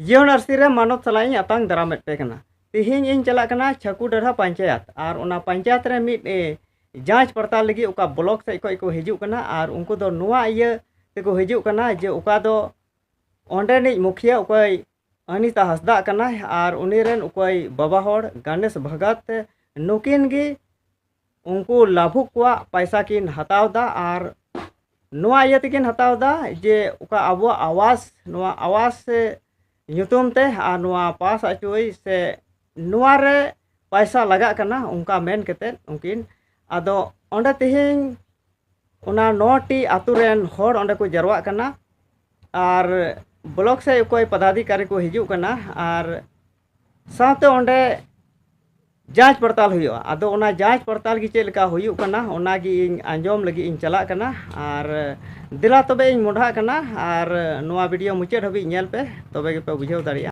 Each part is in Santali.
ᱡᱤᱭᱚᱱ ᱟᱹᱨᱥᱤ ᱨᱮ ᱢᱟᱱᱚᱛ ᱥᱟᱞᱟᱜ ᱤᱧ ᱟᱛᱟᱝ ᱫᱟᱨᱟᱢᱮᱫ ᱯᱮ ᱠᱟᱱᱟ ᱛᱮᱦᱮᱧ ᱤᱧ ᱪᱟᱞᱟᱜ ᱠᱟᱱᱟ ᱪᱷᱟᱠᱩ ᱰᱟᱹᱨᱦᱟ ᱯᱚᱧᱪᱟᱭᱮᱛ ᱟᱨ ᱚᱱᱟ ᱯᱚᱧᱪᱟᱭᱮᱛ ᱨᱮ ᱢᱤᱫ ᱡᱟᱸᱪ ᱯᱟᱲᱛᱟᱞ ᱞᱟᱹᱜᱤᱫ ᱚᱠᱟ ᱵᱞᱚᱠ ᱥᱮᱫ ᱠᱷᱚᱱ ᱠᱚ ᱦᱤᱡᱩᱜ ᱠᱟᱱᱟ ᱟᱨ ᱩᱱᱠᱩ ᱫᱚ ᱱᱚᱣᱟ ᱤᱭᱟᱹ ᱛᱮᱠᱚ ᱦᱤᱡᱩᱜ ᱠᱟᱱᱟ ᱡᱮ ᱚᱠᱟ ᱫᱚ ᱚᱸᱰᱮᱱᱤᱡ ᱢᱩᱠᱷᱤᱭᱟᱹ ᱚᱠᱚᱭ ᱟᱱᱤᱛᱟ ᱦᱟᱸᱥᱫᱟ ᱠᱟᱱᱟᱭ ᱟᱨ ᱩᱱᱤ ᱨᱮᱱ ᱚᱠᱚᱭ ᱵᱟᱵᱟ ᱦᱚᱲ ᱜᱟᱱᱮᱥ ᱵᱷᱟᱜᱟᱛ ᱱᱩᱠᱤᱱ ᱜᱮ ᱩᱱᱠᱩ ᱞᱟᱹᱵᱩᱜ ᱠᱚᱣᱟᱜ ᱯᱚᱭᱥᱟ ᱠᱤᱱ ᱦᱟᱛᱟᱣ ᱮᱫᱟ ᱟᱨ ᱱᱚᱣᱟ ᱤᱭᱟᱹ ᱛᱮᱠᱤᱱ ᱦᱟᱛᱟᱣ ᱮᱫᱟ ᱡᱮ ᱚᱠᱟ ᱟᱵᱚᱣᱟᱜ ᱟᱵᱟᱥ ᱱᱚᱣᱟ ᱟᱵᱟᱥ ᱧᱩᱛᱩᱢ ᱛᱮ ᱟᱨ ᱱᱚᱣᱟ ᱯᱟᱥ ᱟᱹᱪᱩᱭ ᱥᱮ ᱱᱚᱣᱟ ᱨᱮ ᱯᱚᱭᱥᱟ ᱞᱟᱜᱟᱜ ᱠᱟᱱᱟ ᱚᱱᱠᱟ ᱢᱮᱱ ᱠᱟᱛᱮ ᱩᱱᱠᱤᱱ ᱟᱫᱚ ᱚᱸᱰᱮ ᱛᱮᱦᱮᱧ ᱚᱱᱟ ᱱᱚᱴᱤ ᱟᱛᱳ ᱨᱮᱱ ᱦᱚᱲ ᱚᱸᱰᱮ ᱠᱚ ᱡᱟᱨᱣᱟᱜ ᱠᱟᱱᱟ ᱟᱨ ᱵᱞᱚᱠ ᱥᱮᱫ ᱚᱠᱚᱭ ᱯᱚᱫᱟᱫᱷᱤᱠᱟᱨᱤ ᱠᱚ ᱦᱤᱡᱩᱜ ᱠᱟᱱᱟ ᱟᱨ ᱥᱟᱶᱛᱮ ᱚᱸᱰᱮ ᱡᱟᱸᱪ ᱯᱟᱲᱛᱟᱞ ᱦᱩᱭᱩᱜᱼᱟ ᱟᱫᱚ ᱚᱱᱟ ᱡᱟᱸᱪ ᱯᱟᱲᱛᱟᱞ ᱜᱮ ᱪᱮᱫ ᱞᱮᱠᱟ ᱦᱩᱭᱩᱜ ᱠᱟᱱᱟ ᱚᱱᱟ ᱜᱮ ᱤᱧ ᱟᱸᱡᱚᱢ ᱞᱟᱹᱜᱤᱫ ᱤᱧ ᱪᱟᱞᱟᱜ ᱠᱟᱱᱟ ᱟᱨ ᱫᱮᱞᱟ ᱛᱚᱵᱮ ᱤᱧ ᱢᱚᱰᱷᱟᱜ ᱠᱟᱱᱟ ᱟᱨ ᱱᱚᱣᱟ ᱵᱷᱤᱰᱤᱭᱳ ᱢᱩᱪᱟᱹᱫ ᱦᱟᱹᱵᱤᱡ ᱧᱮᱞ ᱯᱮ ᱛᱚᱵᱮ ᱜᱮᱯᱮ ᱵᱩᱡᱷᱟᱹᱣ ᱫᱟᱲᱮᱭᱟᱜᱼᱟ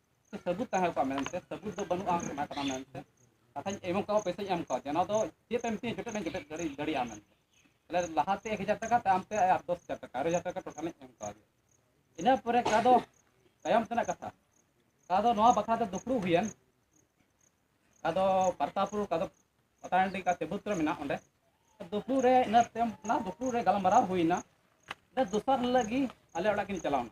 ᱥᱟᱹᱵᱩᱫ ᱛᱟᱦᱮᱸ ᱠᱚᱜᱼᱟ ᱢᱮᱱᱛᱮ ᱥᱟᱹᱵᱩᱫ ᱫᱚ ᱵᱟᱹᱱᱩᱜᱼᱟ ᱚᱱᱟ ᱠᱟᱱᱟ ᱢᱮᱱᱛᱮ ᱠᱟᱛᱷᱟᱧ ᱮᱢ ᱠᱟᱜᱼᱟ ᱯᱚᱭᱥᱟᱧ ᱮᱢ ᱠᱟᱣᱫᱮᱭᱟ ᱚᱱᱟ ᱫᱚ ᱪᱮᱫ ᱮᱢ ᱢᱤᱛᱟᱹᱧᱟ ᱡᱚᱛᱚ ᱱᱟᱜ ᱡᱚᱴᱮᱫ ᱫᱟᱲᱮ ᱫᱟᱲᱮᱭᱟᱜᱼᱟ ᱢᱮᱱᱛᱮ ᱛᱟᱦᱚᱞᱮ ᱞᱟᱦᱟᱛᱮ ᱮᱠ ᱦᱟᱡᱟᱨ ᱴᱟᱠᱟ ᱛᱟᱭᱚᱢ ᱛᱮ ᱟᱨ ᱫᱚᱥ ᱦᱟᱡᱟᱨ ᱴᱟᱠᱟ ᱟᱨᱮ ᱦᱟᱡᱟᱨ ᱴᱟᱠᱟ ᱴᱳᱴᱟᱞ ᱤᱧ ᱮᱢ ᱠᱟᱣᱫᱮᱭᱟ ᱤᱱᱟᱹ ᱯᱚᱨᱮ ᱚᱠᱟ ᱫᱚ ᱛᱟᱭᱚᱢ ᱛᱮᱱᱟᱜ ᱠᱟᱛᱷᱟ ᱚᱠᱟ ᱫᱚ ᱱᱚᱣᱟ ᱵᱟᱠᱷᱨᱟ ᱛᱮ ᱫᱩᱯᱲᱩᱵ ᱦᱩᱭᱮᱱ ᱚᱠᱟ ᱫᱚ ᱯᱟᱨᱛᱟᱯᱩᱨ ᱚᱠᱟ ᱫᱚ ᱯᱟᱛᱟᱱᱰᱤ ᱚᱠᱟ ᱛᱮᱵᱩᱛ ᱨᱮ ᱢᱮᱱᱟᱜ ᱚᱸᱰᱮ ᱫᱩᱯᱲᱩᱵ ᱨᱮ ᱤᱱᱟᱹ ᱛᱟᱭᱚᱢ ᱚᱱᱟ ᱫᱩᱯᱲᱩᱵ ᱨᱮ ᱜᱟᱞᱢᱟᱨᱟᱣ ᱦᱩᱭᱱᱟ ᱤᱱᱟᱹ ᱫᱚᱥᱟᱨ ᱦᱤᱞᱳᱜ ᱜᱮ ᱟᱞᱮ ᱚᱲᱟᱜ ᱠᱤᱱ ᱪᱟᱞᱟᱣᱱᱟ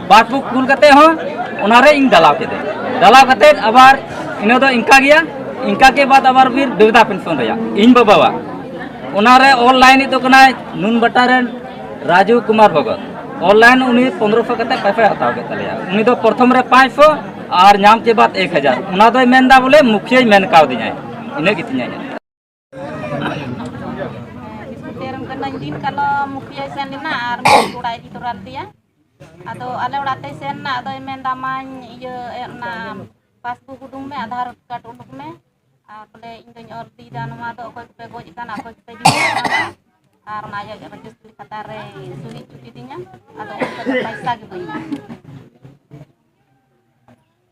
ᱵᱟᱥ ᱵᱩᱠ ᱠᱩᱞ ᱠᱟᱛᱮ ᱦᱚᱸ ᱚᱱᱟᱨᱮ ᱤᱧ ᱫᱟᱞᱟᱣ ᱠᱮᱫᱟ ᱫᱟᱞᱟᱣ ᱠᱟᱛᱮ ᱟᱵᱟᱨ ᱤᱱᱟᱹ ᱫᱚ ᱤᱱᱠᱟ ᱜᱮᱭᱟ ᱤᱱᱠᱟ ᱜᱮ ᱵᱟᱫ ᱟᱵᱟᱨ ᱵᱤᱨ ᱵᱤᱨᱫᱟ ᱯᱮᱱᱥᱚᱱ ᱨᱮᱭᱟᱜ ᱤᱧ ᱵᱟᱵᱟᱣᱟᱜ ᱚᱱᱟᱨᱮ ᱚᱱᱞᱟᱭᱤᱱ ᱫᱚ ᱠᱟᱱᱟᱭ ᱱᱩᱱ ᱵᱟᱴᱟ ᱨᱮᱱ ᱨᱟᱡᱩ ᱠᱩᱢᱟᱨ ᱵᱷᱚᱜᱚᱛ ᱚᱱᱞᱟᱭᱤᱱ ᱩᱱᱤ ᱯᱚᱱᱨᱚ ᱥᱚ ᱠᱟᱛᱮ ᱯᱟᱭᱥᱟᱭ ᱦᱟᱛᱟᱣ ᱠᱮᱫ ᱛᱟᱞᱮᱭᱟ ᱩᱱᱤ ᱫᱚ ᱯᱨᱚᱛᱷᱚᱢ ᱨᱮ ᱯᱟᱸᱪ ᱥᱚ ᱟᱨ ᱧᱟᱢ ᱪᱮ ᱵᱟᱫ ᱮᱠ ᱦᱟᱡᱟᱨ ᱚᱱᱟ ᱫᱚᱭ ᱢᱮᱱᱫᱟ ᱵᱚᱞᱮ ᱢᱩᱠᱷᱤᱭᱟᱹᱭ ᱢᱮᱱ ᱠᱟᱣᱫᱤᱧᱟᱭ ᱤᱱᱟᱹ ᱜᱮᱛᱤᱧᱟᱭ ᱛᱮᱨᱚᱢ ᱠᱟᱹᱱᱟᱹᱧ ᱫᱤᱱ ᱠᱟᱞᱚᱢ ᱢᱩᱠᱷᱤᱭᱟᱹᱭ ᱥᱮᱱ ᱞᱮᱱᱟ ᱟᱨ ᱢᱩᱠᱷᱤ ᱚᱲᱟᱜ ᱤᱫᱤ ᱛᱚᱨᱟ ᱞᱮᱫᱮᱭᱟ ᱟᱫᱚ ᱟᱞᱮ ᱚᱲᱟᱜ ᱛᱮᱭ ᱥᱮᱱ ᱮᱱᱟ ᱟᱫᱚᱭ ᱢᱮᱱᱫᱟ ᱢᱟᱧ ᱤᱭᱟᱹ ᱚᱱᱟ ᱯᱟᱥᱵᱩᱠ ᱩᱰᱩᱝ ᱢᱮ ᱟᱫᱷᱟᱨ ᱠᱟᱨᱰ ᱩᱰᱩᱠ ᱢᱮ ᱟᱨ ᱵᱚᱞᱮ ᱤᱧ ᱫᱚᱧ ᱚᱞ ᱤᱫᱤᱭᱮᱫᱟ ᱱᱚᱣᱟ ᱫᱚ ᱚᱠᱚᱭ ᱠᱚᱯᱮ ᱜᱚᱡ ᱟᱠᱟᱱᱟ ᱚᱠᱚᱭ ᱠᱚᱯᱮ ᱡᱤᱣᱤᱫ ᱟᱠᱟᱱᱟ ᱟᱨ ᱚᱱᱟ ᱟᱡᱟᱜ ᱨᱮᱡᱤᱥᱴᱨᱤ ᱠᱷᱟᱛᱟ ᱨᱮ ᱥᱩᱦᱤ ᱦᱚᱪᱚ ᱠᱤᱫᱤᱧᱟ ᱟᱫᱚ ᱩᱱ ᱠᱷᱚᱱ ᱫᱚ ᱯᱚᱭᱥᱟ ᱜᱮ ᱵᱟᱹᱧ ᱧᱟᱢ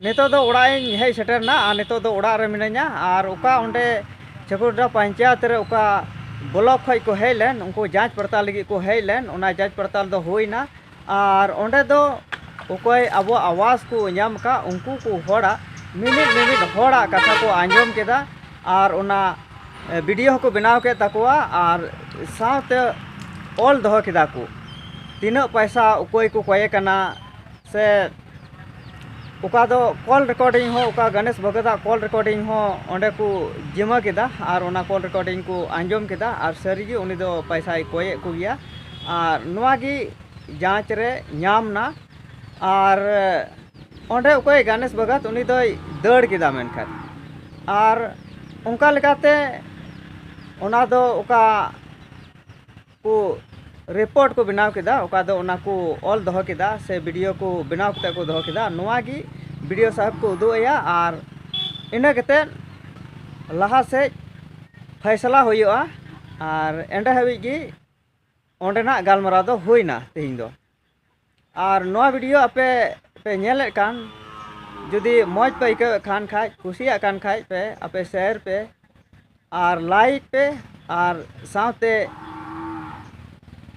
ᱱᱤᱛᱚᱜ ᱫᱚ ᱚᱲᱟᱜ ᱤᱧ ᱦᱮᱡ ᱥᱮᱴᱮᱨᱱᱟ ᱟᱨ ᱱᱤᱛᱚᱜ ᱫᱚ ᱚᱲᱟᱜ ᱨᱮ ᱢᱤᱱᱟᱹᱧᱟ ᱟᱨ ᱚᱠᱟ ᱚᱸᱰᱮ ᱪᱷᱟᱹᱠᱩᱰᱰᱟ ᱯᱚᱧᱪᱟᱭᱮᱛ ᱨᱮ ᱚᱠᱟ ᱵᱞᱚᱠ ᱠᱷᱚᱱ ᱠᱚ ᱦᱮᱡ ᱞᱮᱱ ᱩᱱᱠᱩ ᱡᱟᱸᱪ ᱯᱟᱲᱛᱟᱞ ᱞᱟᱹᱜᱤᱫ ᱠᱚ ᱦᱮᱡ ᱞᱮᱱ ᱚᱱᱟ ᱡᱟᱸᱪ ᱯᱟᱲᱛᱟᱞ ᱫᱚ ᱦᱩᱭᱱᱟ ᱟᱨ ᱚᱸᱰᱮ ᱫᱚ ᱚᱠᱚᱭ ᱟᱵᱚᱣᱟᱜ ᱟᱣᱟᱥ ᱠᱚ ᱧᱟᱢ ᱟᱠᱟᱫ ᱩᱱᱠᱩ ᱠᱚ ᱦᱚᱲᱟᱜ ᱢᱤᱢᱤᱫ ᱢᱤᱢᱤᱫ ᱦᱚᱲᱟᱜ ᱠᱟᱛᱷᱟ ᱠᱚ ᱟᱸᱡᱚᱢ ᱠᱮᱫᱟ ᱟᱨ ᱚᱱᱟ ᱵᱤᱰᱤᱭᱳ ᱦᱚᱸᱠᱚ ᱵᱮᱱᱟᱣ ᱠᱮᱫ ᱛᱟᱠᱚᱣᱟ ᱟᱨ ᱥᱟᱶᱛᱮ ᱚᱞ ᱫᱚᱦᱚ ᱠᱮᱫᱟ ᱠᱚ ᱛᱤᱱᱟᱹᱜ ᱯᱚᱭᱥᱟ ᱚᱠᱚᱭ ᱠᱚ ᱠᱚᱭᱮ ᱠᱟᱱᱟ ᱥᱮ ᱚᱠᱟ ᱫᱚ ᱠᱚᱞ ᱨᱮᱠᱚᱨᱰᱤᱝ ᱦᱚᱸ ᱚᱠᱟ ᱜᱚᱱᱮᱥ ᱵᱷᱚᱜᱚᱛᱟᱜ ᱠᱚᱞ ᱨᱮᱠᱚᱨᱰᱤᱝ ᱦᱚᱸ ᱚᱸᱰᱮ ᱠᱚ ᱡᱤᱢᱟᱹ ᱠᱮᱫᱟ ᱟᱨ ᱚᱱᱟ ᱠᱚᱞ ᱨᱮᱠᱚᱨᱰᱤᱝ ᱠᱚ ᱟᱸᱡᱚᱢ ᱠᱮᱫᱟ ᱟᱨ ᱥᱟᱹᱨᱤ ᱜᱮ ᱩᱱᱤ ᱫᱚ ᱯᱚᱭᱥᱟᱭ ᱠᱚᱭᱮᱫ ᱠᱚᱜᱮᱭᱟ ᱟᱨ ᱱᱚᱣᱟ ᱜᱮ ᱡᱟᱸᱪ ᱨᱮ ᱧᱟᱢ ᱮᱱᱟ ᱟᱨ ᱚᱸᱰᱮ ᱚᱠᱚᱭ ᱜᱚᱱᱮᱥ ᱵᱷᱚᱜᱚᱛ ᱩᱱᱤ ᱫᱚᱭ ᱫᱟᱹᱲ ᱠᱮᱫᱟ ᱢᱮᱱᱠᱷᱟᱱ ᱟᱨ ᱚᱱᱠᱟ ᱞᱮᱠᱟᱛᱮ ᱚᱱᱟ ᱫᱚ ᱚᱠᱟ ᱠᱚ ᱨᱤᱯᱳᱨᱴ ᱠᱚ ᱵᱮᱱᱟᱣ ᱠᱮᱫᱟ ᱚᱠᱟ ᱫᱚ ᱚᱱᱟ ᱠᱚ ᱚᱞ ᱫᱚᱦᱚ ᱠᱮᱫᱟ ᱥᱮ ᱵᱤᱰᱤᱭᱳ ᱠᱚ ᱵᱮᱱᱟᱣ ᱠᱟᱛᱮ ᱠᱚ ᱫᱚᱦᱚ ᱠᱮᱫᱟ ᱱᱚᱣᱟ ᱜᱮ ᱵᱤᱰᱤᱭᱳ ᱥᱟᱦᱮᱵᱽ ᱠᱚ ᱩᱫᱩᱜ ᱟᱭᱟ ᱟᱨ ᱤᱱᱟᱹ ᱠᱟᱛᱮ ᱞᱟᱦᱟ ᱥᱮᱡ ᱯᱷᱟᱭᱥᱟᱞᱟ ᱦᱩᱭᱩᱜᱼᱟ ᱟᱨ ᱮᱸᱰᱮ ᱦᱟᱹᱵᱤᱡ ᱜᱮ ᱚᱸᱰᱮᱱᱟᱜ ᱜᱟᱞᱢᱟᱨᱟᱣ ᱫᱚ ᱦᱩᱭᱱᱟ ᱛᱮᱦᱮᱧ ᱫᱚ ᱟᱨ ᱱᱚᱣᱟ ᱵᱷᱤᱰᱤᱭᱳ ᱟᱯᱮ ᱯᱮ ᱧᱮᱞᱮᱫ ᱠᱟᱱ ᱡᱩᱫᱤ ᱢᱚᱡᱽ ᱯᱮ ᱟᱹᱭᱠᱟᱹᱣᱮᱫ ᱠᱷᱟᱱ ᱠᱷᱟᱡ ᱠᱩᱥᱤᱭᱟᱜ ᱠᱟᱱ ᱠᱷᱟᱡ ᱯᱮ ᱟᱯᱮ ᱥᱮᱭᱟᱨ ᱯᱮ ᱟᱨ ᱞᱟᱭᱤᱠ ᱯᱮ ᱟᱨ ᱥᱟᱶᱛᱮ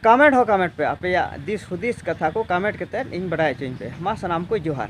ᱠᱟᱢᱮᱱᱴ ᱦᱚᱸ ᱠᱟᱢᱮᱱᱴ ᱯᱮ ᱟᱯᱮᱭᱟᱜ ᱫᱤᱥ ᱦᱩᱫᱤᱥ ᱠᱟᱛᱷᱟ ᱠᱚ ᱠᱟᱢᱮᱱᱴ ᱠᱟᱛᱮᱫ ᱤᱧ ᱵᱟᱰᱟᱭ ᱦᱚᱪᱚᱧ ᱯᱮ ᱢᱟ ᱥᱟᱱᱟᱢ ᱠᱚ ᱡᱚᱦᱟᱨ